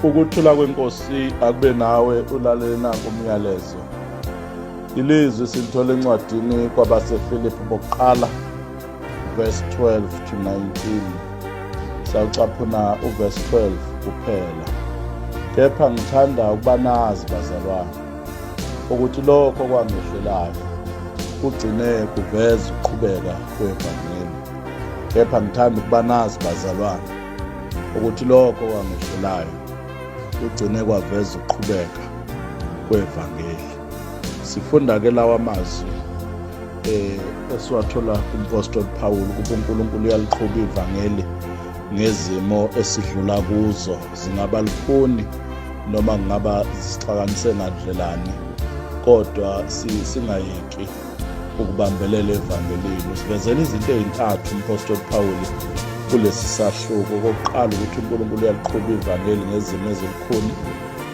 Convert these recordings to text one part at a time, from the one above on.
Ukuthula kwenkosi akube nawe ulalele nanku umyalezo. Ilizwi silithola encwadini kwabaseFilipi bokuqala verse 12 to 19. Sawucaphuna uverse 12 kuphela. Kepha ngithanda ukuba nazi bazalwane ukuthi lokho kwangehlelayo kugcine kuveza ukuqhubeka kwevangeli. Kepha ngithanda ukuba nazi bazalwane ukuthi lokho kwangehlelayo kugcine kwaveza ukuqhubeka kwevangeli sifunda ke lawa mazwi eh esiwathola kumpostoli Paul ukuthi uNkulunkulu uyaliqhuba ivangeli ngezimo esidlula kuzo zingaba lifuni noma kungaba zisixakanise ngandlelani kodwa singayeki si ukubambelela evangelini usivezela izinto ezintathu umpostoli Pawulu kulesi sahluko okokuqala ukuthi uNkulunkulu uyaliqhuba ivangeli ngezimo ezilukhuni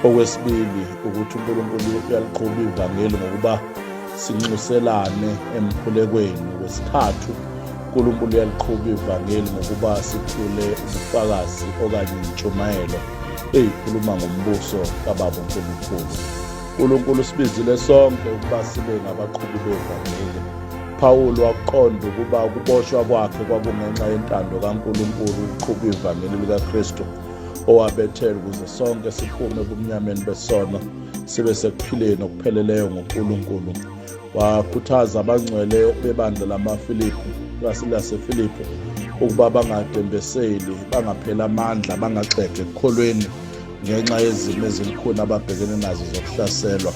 okwesibili ukuthi uNkulunkulu uyaliqhuba ivangeli ngokuba sinxuselane emkhulekweni okwesithathu uNkulunkulu uyaliqhuba ivangeli ngokuba sithule ubufakazi okanye intshumayelo eyikhuluma ngombuso kababa uNkulunkulu uNkulunkulu usibizile sonke ukuba sibe ngabaqhubi bevangeli. Pawulu wakuqonda ukuba ukuboshwa kwakhe kwakungenxa yentando kaNkulunkulu ukuqhuba ivangeli likaKristu owabethela ukuze sonke siphume ebumnyameni besono sibe sekuphileni okupheleleyo ngoNkulunkulu. Wakhuthaza abangcwele bebandla lamaFilipi laseFilipi ukuba bangadembeseli, bangapheli amandla, bangaxege ekukholweni ngenxa yezimo ezilukhuni ababhekene nazo zokuhlaselwa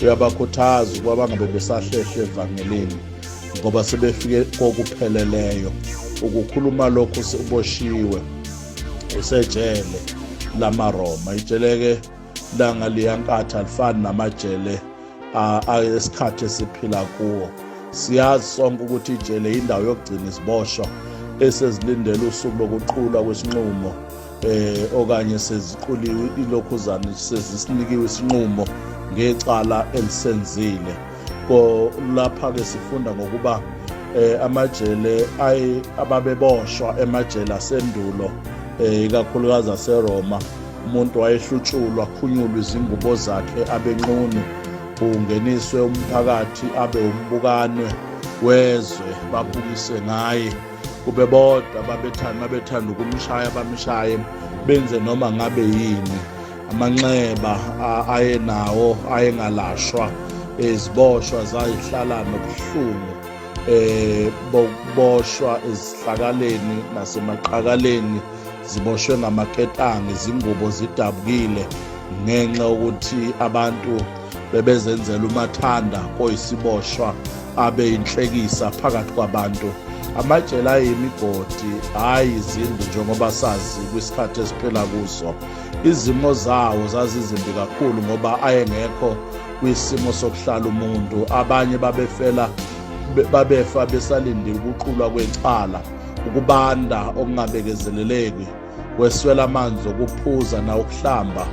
uyabakhuthaza ukuba bangabe besahlehle evangelini ngoba sebefike kokupheleleyo ukukhuluma lokhu uboshiwe usejele lamaroma ijele-ke langa liyankatha lifani namajele esikhathi esiphila kuwo siyazi sonke ukuthi ijele yindawo yokugcina iziboshwa esezilindele usuku lokuqulwa kwesinqumo eh okanye seziquliwe ilokhuzana sezisinikiwe isinqumo ngecala elisenzile ko lapha ke sifunda ngokuba eh amajele ay ababeboshwa emajele asendulo eh ikakhulukazi aseRoma umuntu wayehlutshulwa khunyulwa izingubo zakhe abenqunu ungeniswe umphakathi abe umbukanwe wezwe babukise ngaye kube bodwa babethanda babethanda ukumshaya bamshaye benze noma ngabe yini amanxeba ayenawo ayengalashwa iziboshwa zayihlala nobuhlungu eh bokuboshwa ezihlakaleni nasemaqakaleni ziboshwe ngamaketanga izingubo zidabukile ngenxa yokuthi abantu bebezenzela umathanda oyisiboshwa abe inhlekisa phakathi kwabantu amajele ayimigodi hhayi izindlu njengoba sazi kwisikhathi esiphila kuso izimo zawo zazizimbi kakhulu ngoba ayengekho kwisimo sokuhlala umuntu abanye babefela babefa besalindile ukuqulwa kwecala ukubanda okungabekezeleleki kweswela amanzi okuphuza nawukuhlamba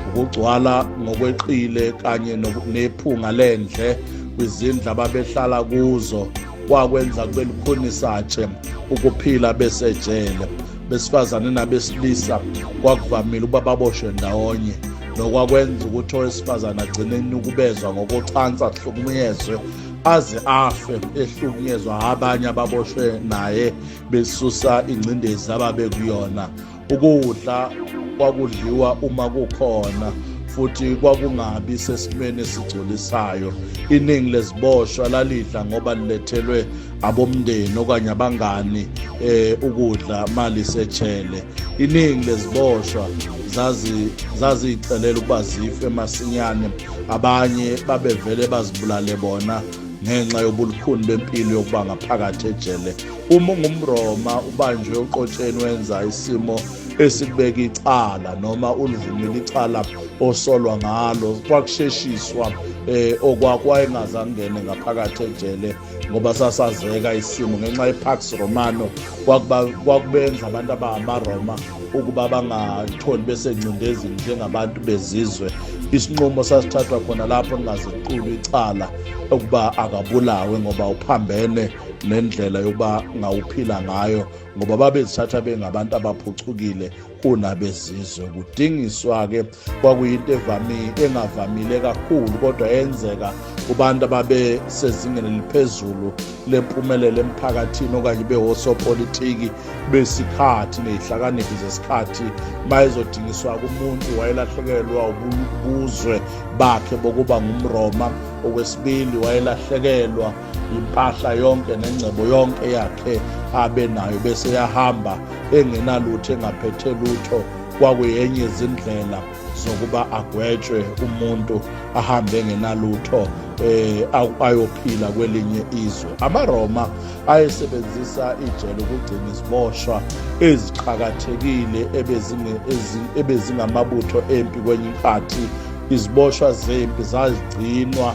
ukugcwala ngokweqile kanye nephunga lendle kwizindlu ababehlala kuzo kwakwenza kube lukhunisatshe ukuphila besejele besifazane nabesilisa kwakuvamile ukuba baboshwe ndawonye nokwakwenza ukuthi owesifazane agcine enukubezwa ngokocansi ahlukunyezwe aze afe ehlukunyezwa abanye ababoshwe naye besusa ingcindezi ababe kuyona ukudla kwakudliwa uma kukhona futhi kwakungabi sesimeni esigculisayo iningi leziboshwa lalidla ngoba lilethelwe abomndeni okanye abangani eh ukudla mali sechele iningi leziboshwa zazi zazicelela ukuba zife masinyane abanye babevele bazibulale bona ngenxa yobulukhuni bempilo yokuba ngaphakathi ejele uma ungumroma ubanjwe uqotsheni wenza isimo esikubeka icala noma ulivumile icala osolwa ngalo kwakusheshiswa um eh, okwakho wayengazangene ngaphakathi ejele ngoba sasazeka isimo ngenxa yepax romano kwakubenza abantu abangamaroma ukuba bangatholi besengcindezini njengabantu bezizwe isinqumo sasithathwa khona lapho ningaziqulu icala ukuba akabulawe ngoba uphambene nendlela yokuba ngawuphila ngayo ngoba babezithatha bengabantu abaphucukile kunabezizwe kudingiswa-ke kwakuyinto evamile engavamile kakhulu kodwa yenzeka kubantu ababesezingeni eliphezulu lempumelelo emphakathini okanye bewosopolitiki besikhathi nezihlakaniphi zesikhathi mayezodingiswa kumuntu wayelahlekelwa ubuzwe bakhe bokuba ngumroma okwesibili wayelahlekelwa impahla yonke nengcebo yonke yakhe abe nayo bese yahamba engenalutho engaphethe lutho kwakuyenye izindlela zokuba agwetshwe umuntu ahambe engenalutho eh ayophila kwelinye izwe amaroma ayesebenzisa ijele ukugcina iziboshwa eziqhakathekile ebezingamabutho empi kwenye inkathi iziboshwa zempi zazigcinwa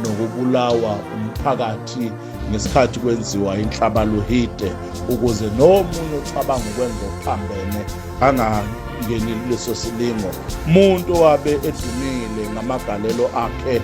nokubulawa umphakathi ngesikhathi kwenziwa inhlabaluhide ukuze nomunye ocabanga ukwenza okuphambene angangeni kuleso silingo umuntu owabe edumile ngamagalelo akhe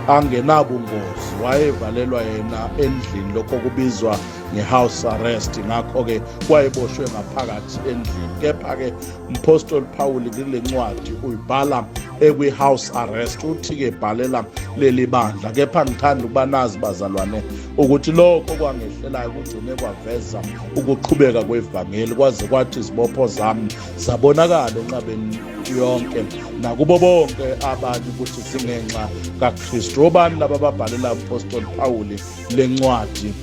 angenabungozi wayevalelwa yena endlini lokho kubizwa nge-house arrest ngakho-ke wayeboshwe ngaphakathi endlini kepha-ke umphostoli phawuli kule ncwadi uyibhala ekwi-house arrest uthi-ke bhalela leli bandla kepha ngithanda ukuba nazi bazalwane ukuthi lokho kwangehlelayo kugcine kwaveza ukuqhubeka kwevangeli kwaze kwathi izibopho zami zabonakala enqabeni yonke nakubo bonke abanye ukuthi zingenxa kakristu obani laba babhalela umpostoli pawuli le ncwadi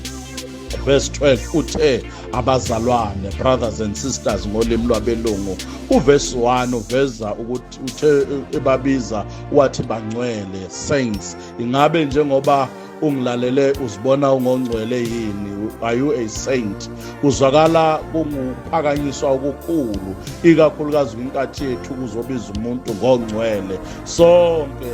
verse 12 uthe abazalwane brothers and sisters ngolimi lwabelungu uverse 1 uveza ukuthi uthe ebabiza wathi bangcwele saints ingabe njengoba ungilalele uzibona ungongcwele yini are you a saint kuzwakala kunguphakanyiswa okukhulu ikakhulukazi kwinkathi yethu kuzobiza umuntu ngongcwele sonke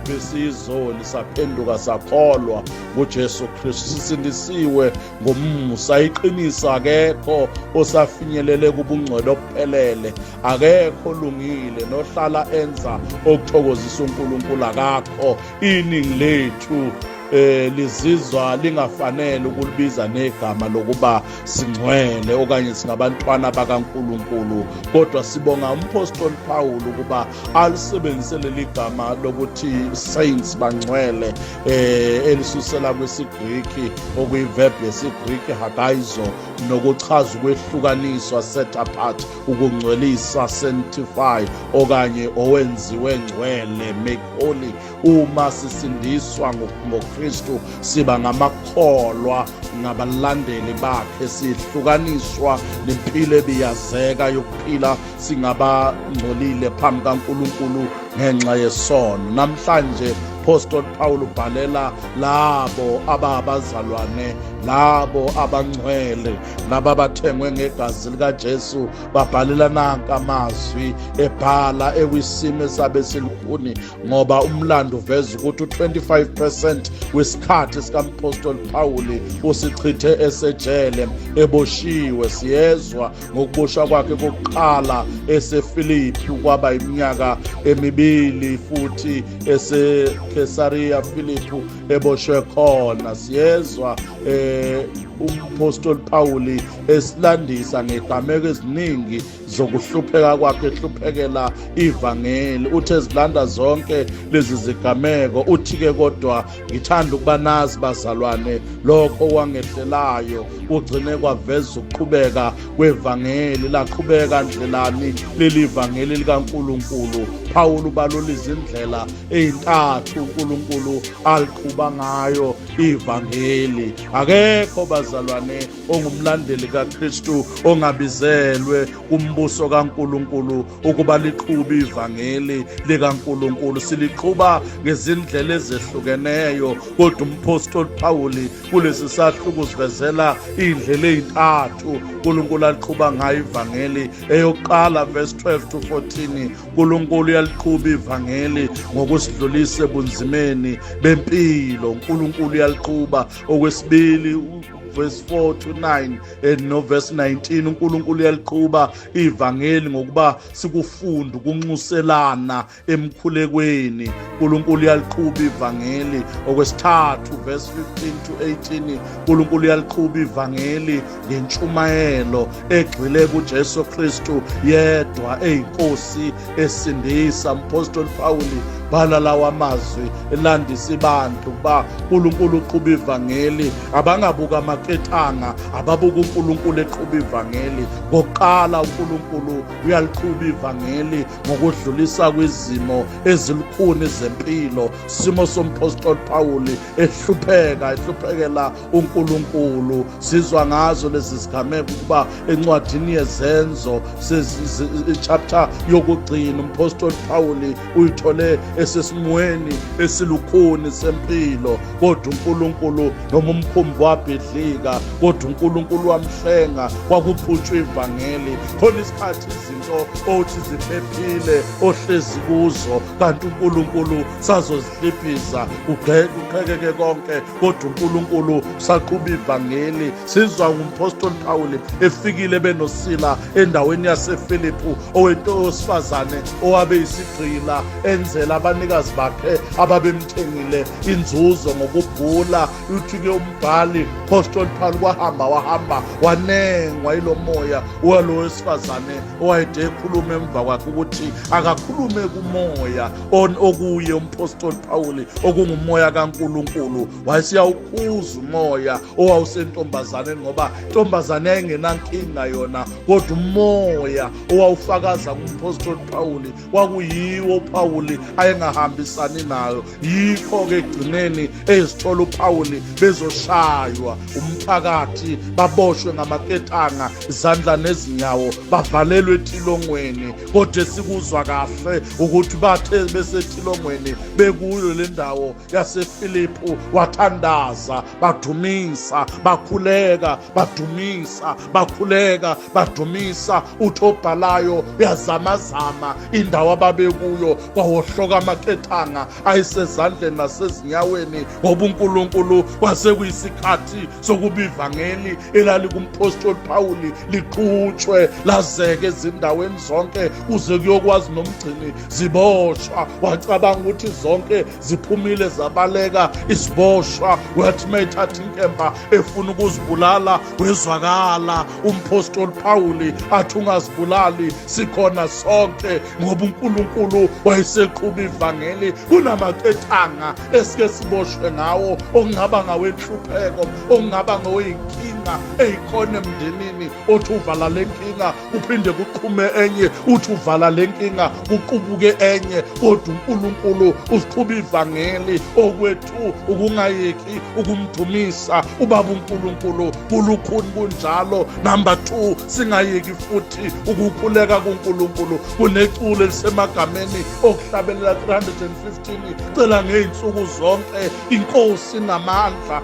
besiyizoni saphenduka sakholwa nguJesu Kristu sisindisiwe ngomusa iqinisa akekho osafinyelele kubungcwele okuphelele akekho olungile nohlala enza okuthokozisa uNkulunkulu akakho iningi lethu eh lizizwa lingafanele ukulibiza negama lokuba singcwele okanye singabantwana bakaNkuluNkulu kodwa sibonga umpostoli Paul ukuba alisebenzise leli gama lokuthi saints bangcwele eh elisusela kwesiGriki okuyiverb yesiGriki hagaizo nokuchaza ukwehlukaniswa set apart ukungcwelisa sanctify okanye owenziwe ngcwele make holy uma sisindiswa ngoKristu siba ngamakholwa ngabalandeli bakhe sihlukaniswa nempilo ebiyazeka yokuphila singabangcolile phambi kaNkulunkulu ngenxa yesono namhlanje umphostoli Paul ubhalela labo ababazalwane labo abangcwele laba bathengwe ngegazi likaJesu babhalela nanka amazwi ebhala ekwisimo esabe silukhuni ngoba umlando uveza ukuthi u-25% wesikhathi sikamphostoli Pawuli usichithe esejele eboshiwe siyezwa ngokuboshwa kwakhe kokuqala eseFilipi kwaba iminyaka emibili futhi eseKesariya Filipi eboshwe khona siyezwa eh umpostoli Pawuli esilandisa ngegameko eziningi zokuhlupheka kwakhe ehluphekela ivangeli uthe zilanda zonke lezi zigameko uthi ke kodwa ngithanda ukuba nazi bazalwane lokho kwangehlelayo kugcine kwaveza ukuqhubeka kwevangeli laqhubeka njelani leli vangeli likaNkuluNkulu Pawulu balula izindlela intathu uNkulunkulu aliqhuba ngayo ivangeli akekho bazalwane ongumlandeli kaKristu ongabizelwe kumbuso kaNkulunkulu ukuba liqhube ivangeli likaNkulunkulu siliqhuba ngezindlela ezehlukeneyo kodwa umphostoli Pawuli kulesi sahluko sivezela indlela ezintathu uNkulunkulu aliqhuba ngayo ivangeli eyokuqala verse 12 to 14 uNkulunkulu uyaliqhuba ivangeli ngokusidlulisa ebunzimeni bempilo uNkulunkulu uyaliqhuba okwesibili verse 4 to 9 eh, no verse 19 uNkulunkulu uyaliqhuba ivangeli ngokuba sikufunda ukunxuselana emkhulekweni uNkulunkulu uyaliqhuba ivangeli okwesithathu verse 15 to 18 uNkulunkulu uyaliqhuba ivangeli ngentshumayelo egxile kuJesu Kristu yedwa eyinkosi esindisa umpostoli Pawuli bhala lawa mazwi elandisa ibantu ba uNkulunkulu uqhuba ivangeli abangabuka amaketanga ababuka uNkulunkulu eqhuba ivangeli ngokuqala uNkulunkulu uyaliqhuba ivangeli ngokudlulisa kwizimo ezilukhuni zempilo simo sompostoli Pawuli ehlupheka ehluphekela uNkulunkulu sizwa ngazo lezi zigameko ukuba encwadini yezenzo chapter yokugcina umpostoli Pawuli uyithole esesimweni esilukhuni sempilo kodwa uNkulunkulu noma umkhumbi wabhidlika kodwa uNkulunkulu wamhlenga kwakuphutshwa ivangeli khona isikhathi izinto othi ziphephile ohlezi kuzo kanti uNkulunkulu sazozihliphiza kuqhekeke konke kodwa uNkulunkulu saqhuba ivangeli sizwa ngumphostoli Pawule efikile benosila endaweni yaseFiliphu owentowesifazane owabe isigqila enzela abanikazi bakhe ababemthengile inzuzo ngokubhula uthi ke umbhali phostoli Pawule kwahamba wahamba wanengwa ilomoya walo wesifazane owayede ekhuluma emva kwakhe ukuthi akakhulume kumoya on okuye umphostoli Pawuli okungumoya kaNkuluNkulu wayesiyawukhuza umoya owawusentombazaneni ngoba intombazane yayingenankinga yona kodwa umoya owawufakaza kumphostoli Pawuli kwakuyiwo uPawuli ayengahambisani nayo yikho ke egcineni ezithola uPawuli bezoshaywa umphakathi baboshwe ngamaketanga izandla nezinyawo bavalelwe etilongweni kodwa sikuzwa kahle ukuthi bathe besetilongweni bekuyo le ndawo yasefilipu wathandaza badumisa bakhuleka badumisa bakhuleka badumisa uthi obhalayo uyazamazama indawo ababekuyo kwawohloka amakethanga ayisezandleni nasezinyaweni ngoba unkulunkulu kwasekuyisikhathi sokuba ivangeli elalikumphostoli phawuli liqhutshwe lazeke ezindaweni zonke kuze kuyokwazi nomgcini ziboshwa wacabanga ukuthi zonke ziphumile zabaleka isiboshwa wathi uma ethatha inkemba efuna ukuzibulala wezwakala umphostoli pawuli athi ungazibulali sikhona sonke ngoba unkulunkulu wayeseqhuba ivangeli kunamaketanha esike siboshwe ngawo okungaba ngawenhlupheko okungaba ngoyinkinga eyikhona emndenini othi uvala le nkinga kuphinde kuqhume enye uthi uvala le nkinga kuqubuke enye kodwa unkulunkulu usiqhuba ivangeli okwethu ukungayeki ukumdumisa ubaba unkulunkulu kulukhuni kunjalo number two singayeki futhi ukukhuleka kunkulunkulu kuneculo elisemagameni okuhlabelela 315 cela ngey'nsuku zonke inkosi namandla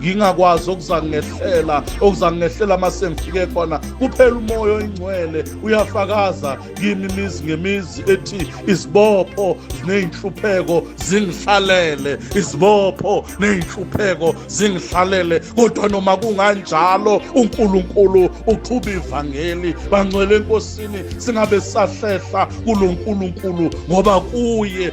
ngingakwazi okuzangehlela okuzangehlela uma sengifike khona kuphela umoya oyingcwele uyafakaza kimi imizi ngemizi ethi izibopho nezinhlupheko zingihlalele izibopho nezinhlupheko zingihlalele kodwa noma kunganjalo uNkulunkulu uqhuba ivangeli bangcwele enkosini singabe sahlehla kuloNkulunkulu ngoba kuye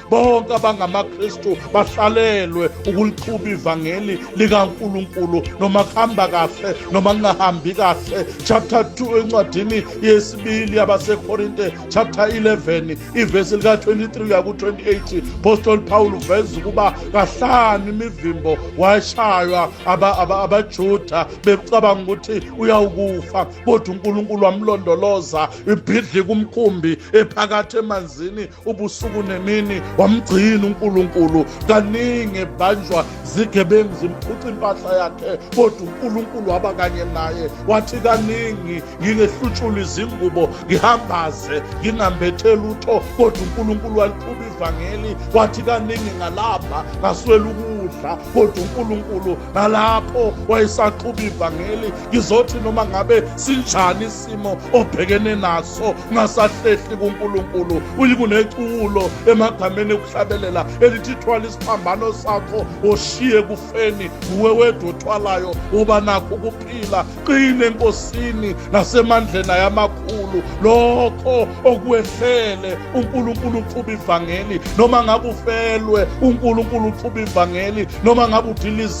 bonke abangamaKristu bahlalelwe ukuliqhuba ivangeli likaNkuluNkulu noma kuhamba kahle noma kungahambi kahle chapter 2 encwadini yesibili yabaseKorinte chapter 11 ivesi lika 23 uya ku 28 apostle Paul uveza ukuba kahlanu imivimbo washaywa abaJuda becabanga ukuthi uyawukufa kodwa uNkulunkulu wamlondoloza ibhidli kumkhumbi ephakathi emanzini ubusuku nemini wamgcina uNkulunkulu kaningi ebanjwa zigebengu zimphuca impahla yakhe kodwa uNkulunkulu waba kanye naye wathi kaningi ngingehlutshula izingubo ngihambaze ngingambethe lutho kodwa uNkulunkulu waliqhuba ivangeli wathi kaningi ngalapha ngaswela ukudla kodwa uNkulunkulu nalapho wayesaxhuba ivangeli ngizothi noma ngabe sinjani isimo obhekene naso ngasahlehli kuNkulunkulu uyikuneculo emagameni okuhlabelela elithi thwala isiphambano sakho oshiye kufeni nguwe wedwa othwalayo uba nakho ukuphila qine enkosini nasemandleni ayamakhulu lokho okwehlele uNkulunkulu uqhuba ivangeli noma ngabe ufelwe uNkulunkulu uqhuba ivangeli noma ngabe udiliza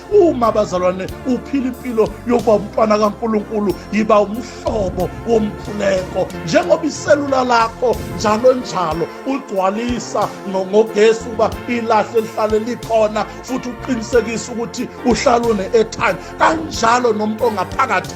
Uma abazalwane uphila impilo yokuba umntwana kaNkulunkulu, yiba umhlobo womkhuleko njengoba iselula lakho njalo njalo ugcwalisa ngogesi uba ilahle lihlale likhona futhi uqinisekise ukuthi uhlala une-airtime kanjalo nomuntu ongaphakathi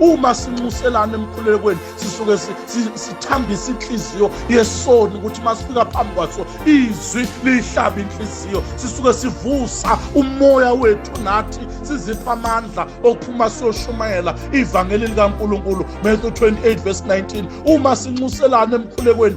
uma sinxuselana emkhulekweni sisuke sithambisa inhliziyo yesoni ukuthi uma sifika phambi kwaso izwi liyihlaba inhliziyo sisuke sivusa umoya wethu nathi sizipha amandla okuphuma siyoshumayela ivangeli likankulunkulu matthew 28 verse 19 uma sinxuselana emkhulekweni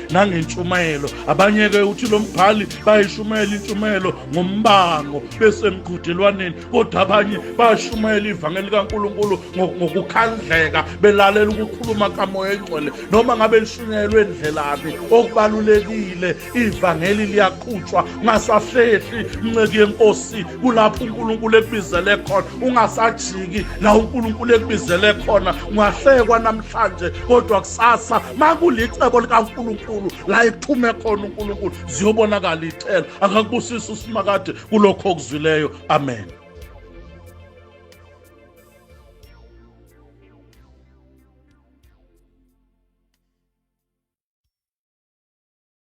nangentshumayelo abanye ke uthi lo mbhali bayishumayela intshumayelo ngombango besemqhudelwaneni kodwa abanye bayashumayela ivangeli likankulunkulu ngokukhandleka belalela ukukhuluma kamoya engcwele noma ngabe lishunyayelwe endlelaphi okubalulekile ivangeli liyaqhutshwa ungasahlehli mnceki yenkosi kulapho unkulunkulu ekubizele khona ungasajiki la unkulunkulu ekubizele khona ungahlekwa namhlanje kodwa kusasa makulicebo likaNkulunkulu la ethume khona uNkulunkulu ziyobonakala icela akakubusisa usimakade kulokho okuzwileyo amen